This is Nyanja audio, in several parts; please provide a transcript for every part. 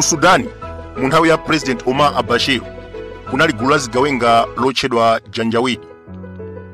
ku sudani mu nthawi ya president omar al bashir kunali gulu la zigawenga lotchedwa janjawidi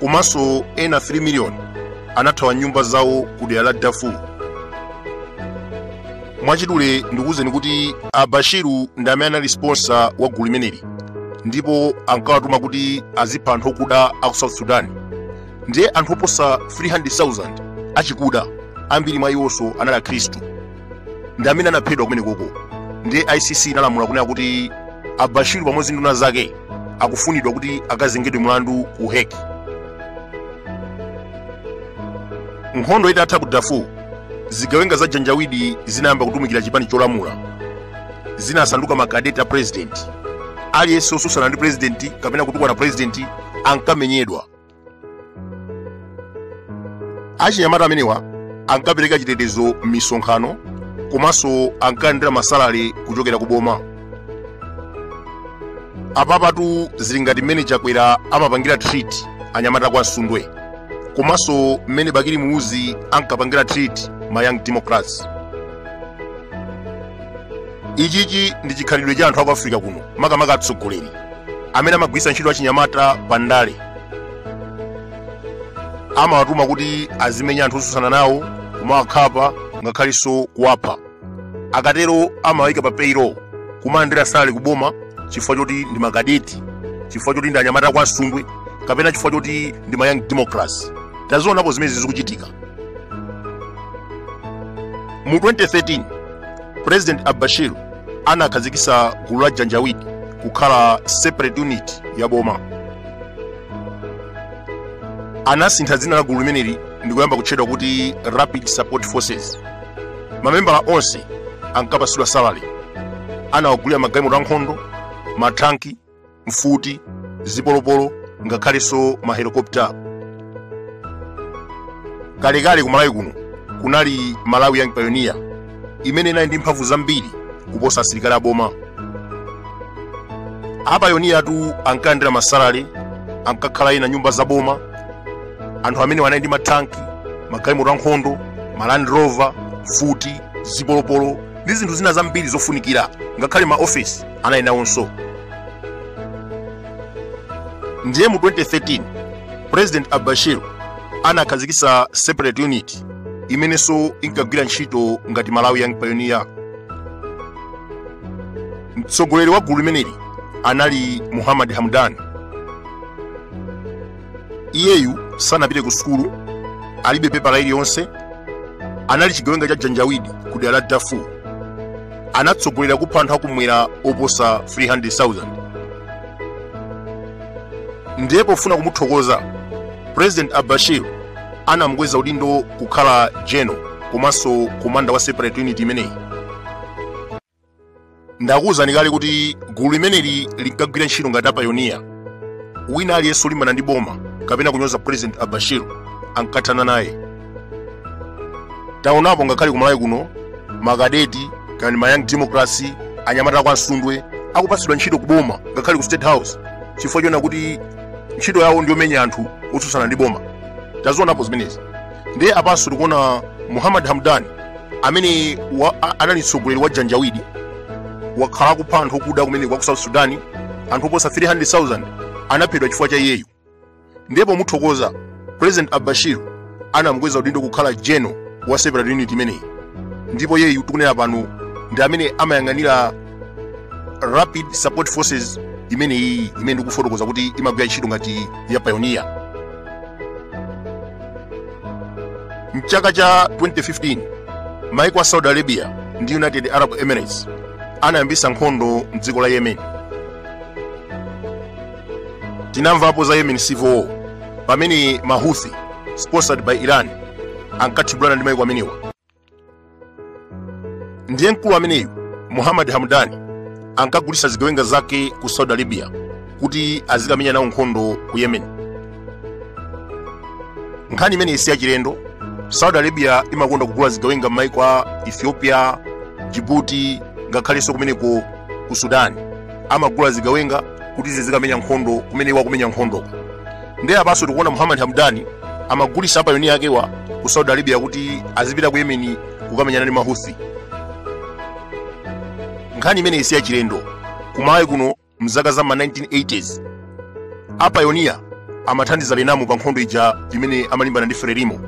komanso ena 3 miliyoni anathawa nyumba zawo ku dera la darfur mwachidule ndikuwuzeni kuti al bashir ndi amene anali sponsor wa gulu limeneli ndipo ankawatuma kuti azipha anthu okuda a ku south sudan ndiye anthu oposa 300,000 achikuda ambiri mwa iwonso anali akhristu ndi amene anaphedwa kumenekoko ndiye icc inalamula kunena kuti al bashir pamodzi ndi nduna zake akufunidwa kuti akazengedwe mlandu ku hague nkhondo itatha ku darfur zigawenga za janjawidi zinayamba kutumikira chipani cholamula zinasanduka makadeti a purezidenti aliyense osusana ndi purezidenti kapena kutukwana purezidenti ankamenyedwa achinyamata amenewa ankapereka chitetezo m'misonkhano komanso ankalandira masalale kuchokera ku boma apapatu zili ngati mmene chakwera amapangira treat anyamata kwa msundwe komanso mmene bakili muluzi ankapangira treat ma young democrats ichichi ndi chikhalidwe cha anthu aku africa kuno makamaka atsogoleri amene amagwiritsa ntchito achinyamata pa ndale amawatuma kuti azimenya anthu osusana nawo kumawakhapa ngakhalinso kuwapha akatero amawayika pa payroll kumalandira salary kuboma chifukwa choti ndi makadeti chifukwa choti ndi anyamata kwa msundwe kapena chifukwa choti ndi ma young democrats tazionapo zimene zikuchitika mu 2013 president al bashir anakhazikisa gulu la janjawidi kukhala separate unit ya boma anasintha dzina la gulu limeneli ndikuyamba kutchedwa kuti rapid support forces mamembala onse ankapasidwa salary anawagulira magalimoto ankhondo mathanki mfuti zipolopolo ngakhalenso mahelikopta kalekale ku malawi kuno kunali malawi young pioneer imene inali ndi mphamvu zambiri kuposa asilikali aboma apayoniyatu ankalandira masalale ankakhala ena nyumba za boma anthu amenewa anali ndi mathanki magalimoto ankhondo maland rover mfuti zipolopolo ndi zinthu zina zambiri zofunikira ngakhale ma office anali nawonso ndiye mu 2013 president albashir anakhazikitsa separate unit imenenso inkagwira ntchito ngati malawi young pioneer mtsogoleri wa gulu limeneli anali muhammad hamdan iyeyu sanapite ku sukulu alibe pepala iliyonse anali chigawenga cha janjawidi ku dera la darfur anatsogolera kupha anthu akumwera oposa 300,000 ndiye pofuna kumuthokoza president albashir anamukweza udindo kukhala general komanso komanda wa separate unit imeneyi ndakuwuzani kale kuti gulu limeneli linkagwira ntchito ngati apayoniya wina aliyense olimbana ndi boma kapena kunyoza president albashir ankathana naye taonapo ngakhale kumalawi kuno makadeti kani ma young democrats anyamata akwa msundwe akupatsidwa ntchito ku boma ngakhale ku state house chifukwa choona kuti ntchito yawo ndiyomenya anthu otsutsana ndi boma tazionapo zimenezi ndiye apanso tikuona muhammad hamdani amene anali mtsogoleri wa janjawidi wakhala akupha anthu okuda kumene kwa ku south sudan anthu oposa 300000 anaphedwa chifukwa cha iyeyu ndiye pomuthokoza president albashir anamkweza udindo kukhala general wa separate unit imeneyi ndipo iyeyu tikunena pano ndi amene amayang'anira rapid support forces imeneyi imene ndikufotokoza kuti imagwira ntchito ngati ya pioneer mchaka cha 2015 maiko a saudi arabia ndi united arab emirates anayambisa nkhondo mdziko la yemen tinamvapo za yemen civil war pamene mahuthi sponsored by iran ankathibulana ndi maiko amenewa ndiye mkulu ameneyu muhammad hamdani ankagulitsa zigawenga zake ku saudi arabia kuti azikamenya nawo nkhondo ku yemen nkhani imeneyi si yachilendo saudi arabia imakonda kugula zigawenga m'maiko a ethiopia jibuti ngakhalenso kumeneko ku sudani amagula zigawenga kuti zizikamenya nkhondo kumene iwo akumenya nkhondo ndiye apanso tikuona muhammad hamdani amagulitsa apayoniya akewa ku saudi arabia kuti azipita ku yemeni kukamenyana ndi mahuthi nkhani imeneyi si yachilendo kumalawi kuno mzaka za ma 1980s apayoniya amathandiza renamo pa nkhondo ija imene amalimbana ndi frelimo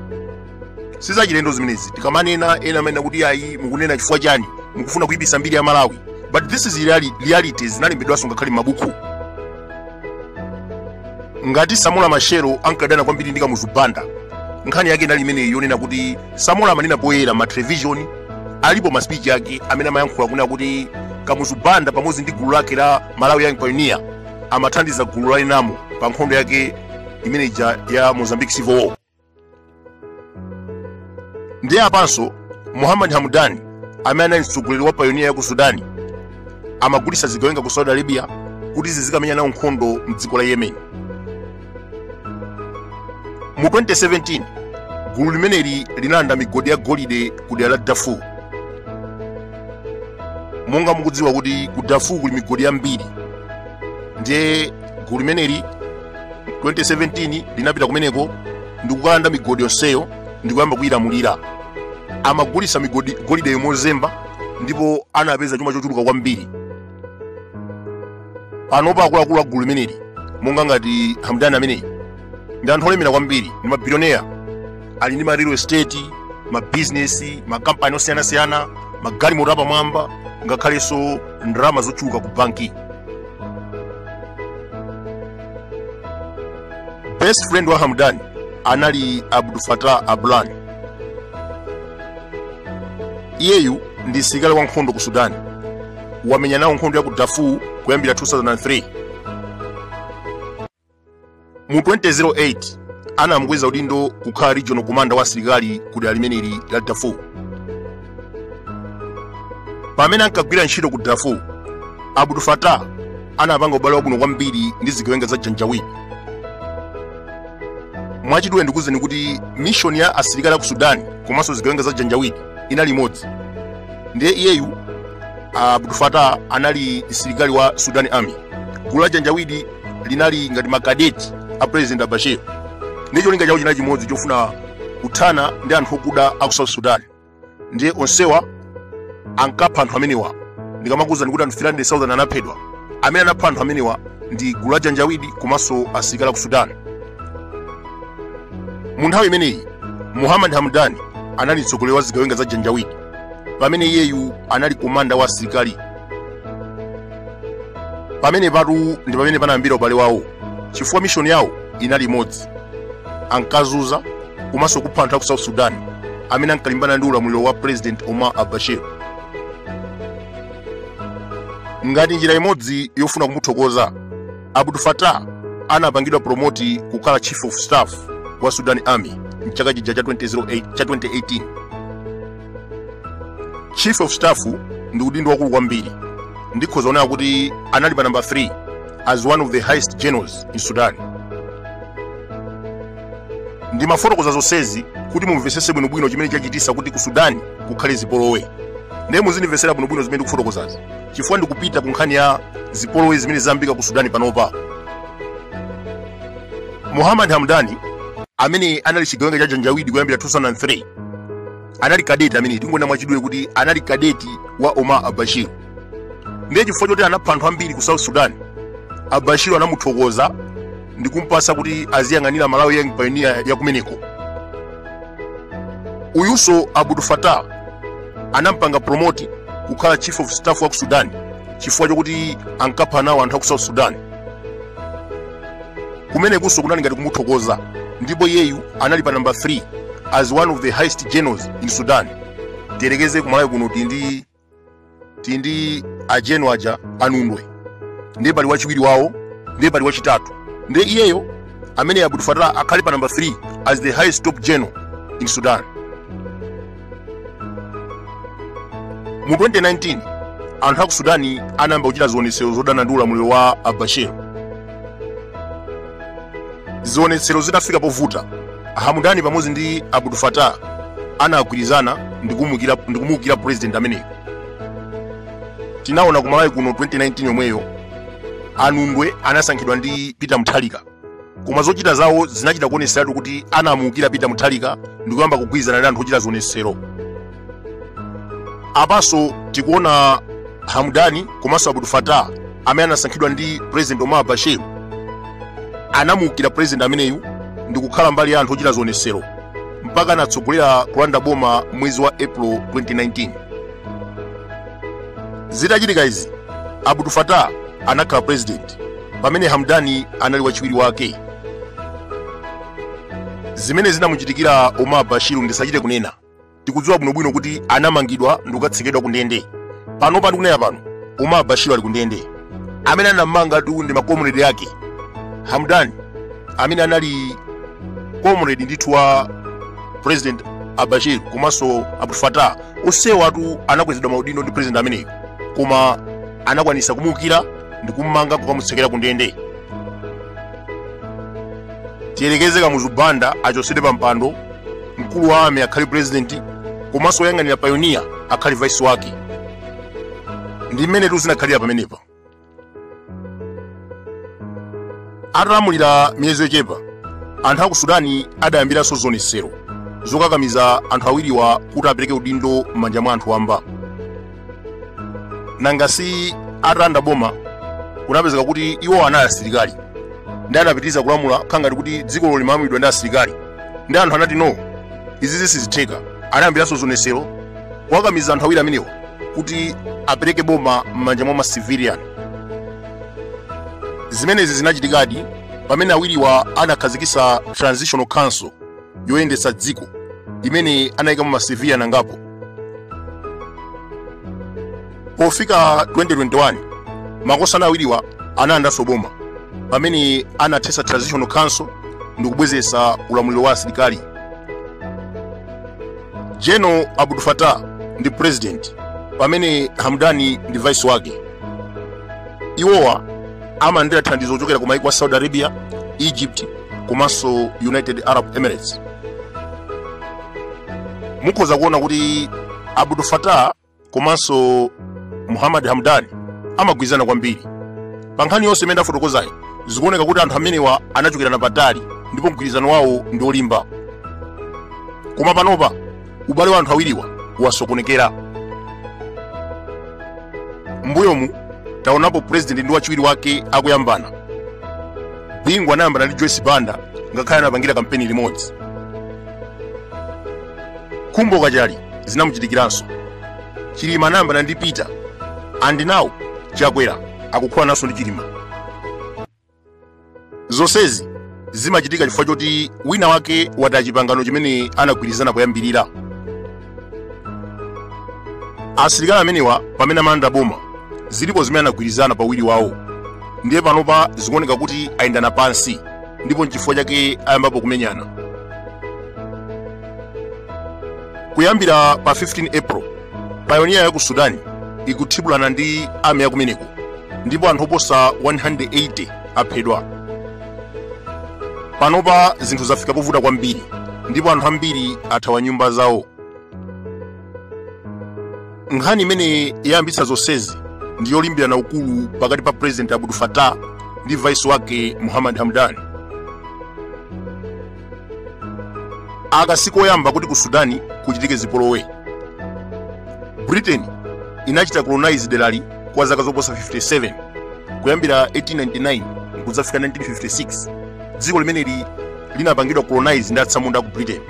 sizachilendo zimenezi tikamanena ena amanena kuti ayi mukunena chifukwa chani mukufuna kuyipisa mbiri ya malawi but this is reality zinalembedwanso ngakhale m'mabuku ngati samora machel ankadana kwambiri ndi kamuzu banda nkhani yake inali imeneyi yonena kuti samora amanena poyera ma television alipo ma speech ake amene amayankhula kunena kuti kamuzu banda pamodzi ndi gulu lake la malawi young pioneer amathandiza gulu la renamo pa nkhondo yake imene ija ya mozambique civil war ndiye apanso muhammad hamdani amene anali mtsogoleri wa payoniya ya ku sudani amagulitsa zigawenga ku saudi arabia kuti zizikamenya nawo nkhondo mdziko la yemen mu 2017 gulu limeneli linalanda migodi ya golide ku dera la darfur monga mukudziwa kuti ku darfur kuli migodi yambiri ndiye gulu limeneli 2017 linapita kumeneko ndikukalanda migodi yonseyo ndikuyamba kuyilamulira amagulitsa migo golideyo mozemba ndipo anapeza chuma chochuluka kwambiri panopa akuluakulu a gulu limeneli monga ngati hamdani ameneyi ndi anthu olemera kwambiri ndi mabilioneya ali ndi ma real estate mabizinesi makampani osiyanasiyana magalimoto apamwamba ngakhalenso ndalama zochuluka ku banki best friend wa hamdani anali abdul fatah alburhan iyeyu ndi msilikali wa nkhondo ku sudani wamenya nawo nkhondo ya ku darfur kuyambira 2003 mu 2008 anamkweza udindo kukhala regional commander wa asilikali ku dera limeneli la darfur pamene ankagwira ntchito ku darfur abdul fatah anapanga ubale wabwino kwambiri ndi zigawenga za janjaweed mwachidule ndikuuzeni kuti mishoni ya asilikali a ku sudani komanso zigawenga za janjaweed inali imodzi ndiye iyeyu abdul fatah anali msilikali wa sudan army gulu la janjaweed linali ngati makadeti a president albashir ndiye cholinga chawo chinali chimodzi chofuna kuthana ndi anthu okuda a ku south sudan ndiye onsewa ankapha anthu amenewa ndikamakuwuzani kuti anthu 300000 anaphedwa amene anapha anthu amenewa ndi gulu la janjaweed komanso asilikali a ku sudan mu nthawi imeneyi muhammad hamdani anali mtsogoleri wa zigawenga za janjaweed pamene iyeyu anali komanda wa asilikali pamenepatu ndi pamene panayambira ubale wawo chifukwa mishoni yawo inali imodzi ankazunza komanso kupha anthu a ku south sudan amene ankalimbana ndi ulamuliro wa president omar albashir ngati njira imodzi yofuna kumuthokoza abdul fatah anapangidwa promoti kukhala chief of staff wa sudan army mchaka chija cha 2008 cha 2018 chief of staff ndi udindo waukulu kwambiri ndikhoza kunena kuti anali pa number 3 as one of the highest generals in sudan ndimafotokoza zonsezi kuti mumvetsetse bwinobwino chimene chachititsa kuti ku sudani kukhale zipolowe ndiye muzindimvetsera bwinobwino zimene ndikufotokozazi chifukwa ndikupita ku nkhani ya zipolowe zimene zayambika ku sudani panopa muhammad hamdani amene anali chigawenga cha janjawidi kuyambira 2003 anali kadeti amene tingonena mwachidule kuti anali kadeti wa omar albashir ndiye chifukwa choti anapha anthu ambiri ku south sudan albashir anamuthokoza ndi kumpasa kuti aziyang'anira malawi young pioneer ya kumeneko uyunso abdul fatah anampanga promote kukhala chief of staff wa ku sudan chifukwa chokuti ankapha nawo anthu a ku south sudan kumenekunso kunali ngati kumuthokoza ndipo iyeyu anali pa namba 3 as one of the highest generals in sudan tiyerekeze kumalawi kuno tili ndi a general aja anundwe ndiye pali wachiwiri wawo ndiye pali wachitatu ndiye iyeyo amene abdul fatah akhale pa namba 3 as the highest top general in sudan mu 2019 anthu a ku sudani anayamba kuchita zionetsero zodana ndi ulamuliro wa albashir zionetsero zitafika povuta hamudani pamodzi ndi abdul fatah anagwirizana ndi kumuukira president ameneyo tinaona kumalawi kuno 2019 yomweyo anundwe anasankhidwa ndi peter mutharika koma zochita zawo zinachita kuoneseratu kuti anamuukira peter mutharika ndi kuyamba kugwirizana ndi anthu ochita zionesero apanso tikuona hamdani komanso abdul fatah amene anasankhidwa ndi president omar albashir anamuukira president ameneyu ndi kukhala mbali ya anthu ochita zionesero mpaka anatsogolera kulanda boma mwezi wa april 2019 zitachitika izi abdul fatah anakhala president pamene hamdani anali wachiwiri wake zimene zinamuchitikira omar albashir ndisachite kunena tikudziwa bwinobwino kuti anamangidwa ndikukatsekedwa ku ndende panopa ndikunena pano omar albashir ali ku ndende amene anammangatu ndi ma comrade ake hamdani amene anali comrade ndithu wa president albashir komanso abdul fatah onsewatu anakwezedwa maudindo ndi president ameneyo koma anakwanisa kumuukira ndi kummanga kukamutsekera ku ndende tiyerekeze kamuzu banda achotsedwe pa mpando mkulu wa ami akhale purezidenti komanso woyang'anira payoniya akhale vaisi wake ndi mmenetu zinakhalira pamenepa atalamulira miyezi yochepa anthu a ku sudani adayambiranso zionetsero zokakamiza anthu awiriwa kuti apereke udindo m'manja mwa anthu wamba nanga si atalanda boma kunapezeka kuti iwo anali asilikali ndi anapitiriza kulamula khangati kuti dzikolo limalamulidwa ndi asilikali ndi anthu anati no izi sizitheka anayambiranso zionetsero kuwakamiza anthu awiri amenewa kuti apereke boma m'manja mwa ma civilian zimenezi zinachitikadi pamene awiriwa anakhazikitsa transitional council yoyendetsa dziko imene anayikamo ma civilian angapo pofika 2021 makosana awiriwa analandanso boma pamene anathetsa transitional council ndi kubwezeretsa ulamuliro wa asilikali general abdul fatah ndi president pamene hamdani ndi vice wake iwowa amalandira thandizo kuchokera ku maiko a saudi arabia egypt komanso united arab emirates mukhoza kuona kuti abdul fatah komanso muhammad hamdani amagwirizana kwambiri pa nkhani yonse imene ndafotokozayi zikuoneka kuti anthu amenewa anachokera napatali ndipo mgwirizano wawo ndi olimba koma panopa ubale wa anthu awiriwa wasokonekera mbuyomu taonapo purezidenti ndi wachiwiri wake akuyambana bingu anayambana ndi joyce banda ngakhale anapangira kampeni limodzi khumbo kachali zinamuchitikiranso chilima anayambana ndi peter and now chakwera akukhulananso ndi chilima zonsezi zimachitika chifukwa choti wina wake wataya chipangano chimene anagwirizana poyambirira asilikali amenewa pamene amalanda boma zilipo zimene anagwirizana pawiri wawo ndiye panopa zikuoneka kuti ayendana pansi ndipo nchifukwa chake ayambapo kumenyana kuyambira pa 15 april payoniya ya ku sudani ikuthibulana ndi ami ya kumeneko ndipo anthu oposa 180 aphedwa panopa zinthu zafika povuta kwambiri ndipo anthu ambiri athawa nyumba zawo nkhani imene yayambitsa zonsezi ndi yolimbirana ukulu pakati pa president abdul fatah ndi vice wake muhammad hamdani aka sikoyamba kuti ku sudani kuchitike zipolowe britain inachita colonize derali kwa zaka zoposa 57 kuyambira 1899 kudzafika 1956 dziko limeneli linapangidwa colonize ndi atsamunda aku britain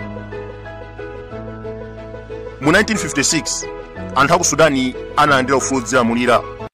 mu 1956 anthu aku sudani analandira ufulu odzilamulira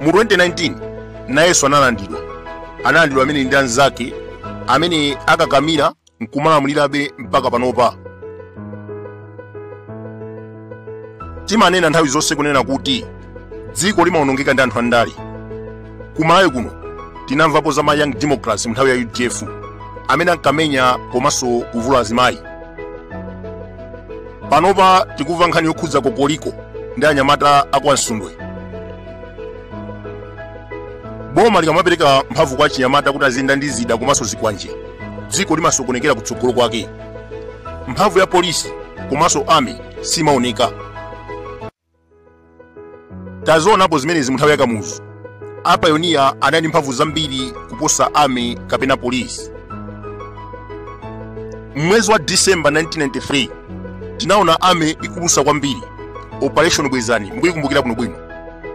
mu 2019 nayenso analandidwa analandidwa amene ndi anzake amene akakamira nkumalamulirabe mpaka panopa timanena nthawi zonse kunena kuti dziko limawonongeka ndi anthu andale ku malawi kuno tinamvapo za ma young democrats mu nthawi ya udf amene ankamenya komanso kuvula azimayi panopa tikumva nkhani yokhudza kokoliko ndi anyamata akwa msundwe boma likamapereka mphamvu kwa achinyamata kuti aziyenda ndi zida komanso zikwanje dziko limasokonekera kutsogolo kwake mphamvu ya polisi komanso army simaoneka tazionapo zimenezi mu nthawi ya kamuzu apayoniya anali ndi mphamvu zambiri kuposa army kapena polisi m'mwezi wa disemba 1993 tinaona army ikulusa kwambiri operation bwezani mukuyikumbukira bwinobwino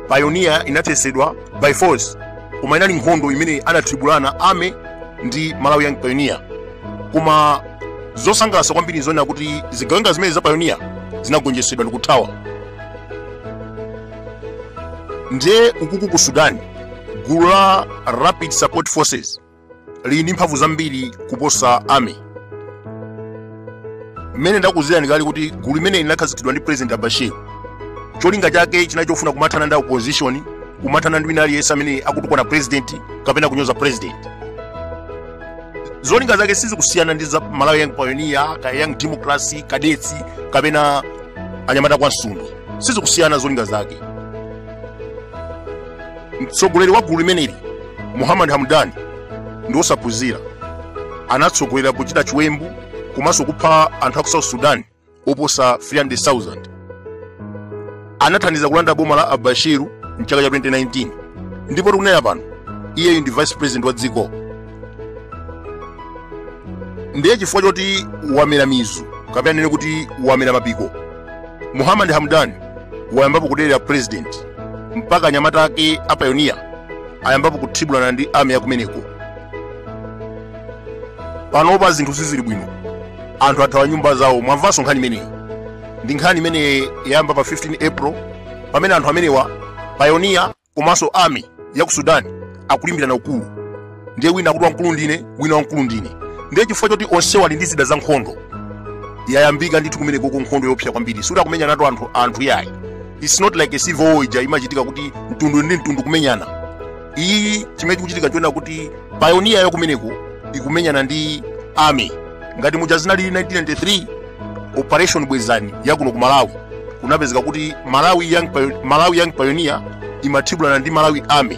payoniya inathetsedwa by force koma inali nkhondo imene anathibulana army ndi malawi young pioneer koma zosangalatsa kwambiri nzonena kuti zigawenga zimene zapayoniya zinagonjetsedwa ndikuthawa ndiye ukuku ku sudan gulu la rapid support forces lili ndi mphamvu zambiri kuposa army mmene ndakuuzirani kale kuti gulu limene linakhazikitsidwa ndi president al bashir cholinga chake chinali chofuna kumathana ndi opposition kumathana ndi wina aliyense amene akutukwana president kapena kunyoza president zolinga zake sizikusiyana ndi za malawi young pioneer ka young democracy kadetsi kapena anyamata akwa msundwe sizikusiyana zolinga zake mtsogoleri wa gulu limeneli muhammad hamdani ndi wosaphunzira anatsogolera kuchita chiwembu komanso kupha anthu a ku south sudan oposa 300,000 anathandiza kulanda boma la al bashir mchaka cha 2019 ndipo tikunena pano iyeyu ndi vice president wa dziko ndiye chifukwa choti wamera mizu kapena ndinene kuti wamera mapiko muhammad hamdan wayambapo kudelera president mpaka anyamata ake apayoniya ayambapo kuthibulana ndi army yakumeneko panopa zinthu sizili bwino anthu athawa nyumba zawo mwamvanso nkhani imeneyi ndi nkhani imene yayamba pa 15 april pamene anthu amenewa payoniya komanso army ya ku sudani akulimbirana ukulu ndiye wina akuti wamkulu ndine wina wamkulu ndine ndiye chifukwa choti onsewa ali ndi zida za nkhondo yayambika ndithu kumeneko ku nkhondo yoopsa kwambiri sikuti akumenyana anthu yayi its not like a civil war ija imachitika kuti mtundu ndi mtundu kumenyana iyi chimene chikuchitika nchoona kuti payoniya ya kumeneko ikumenyana ndi army ngati muja zinalili 1993 operation bwezani ya kuno ku malawi kunapezeka kuti malawi young pioneer imathibulana ndi malawi army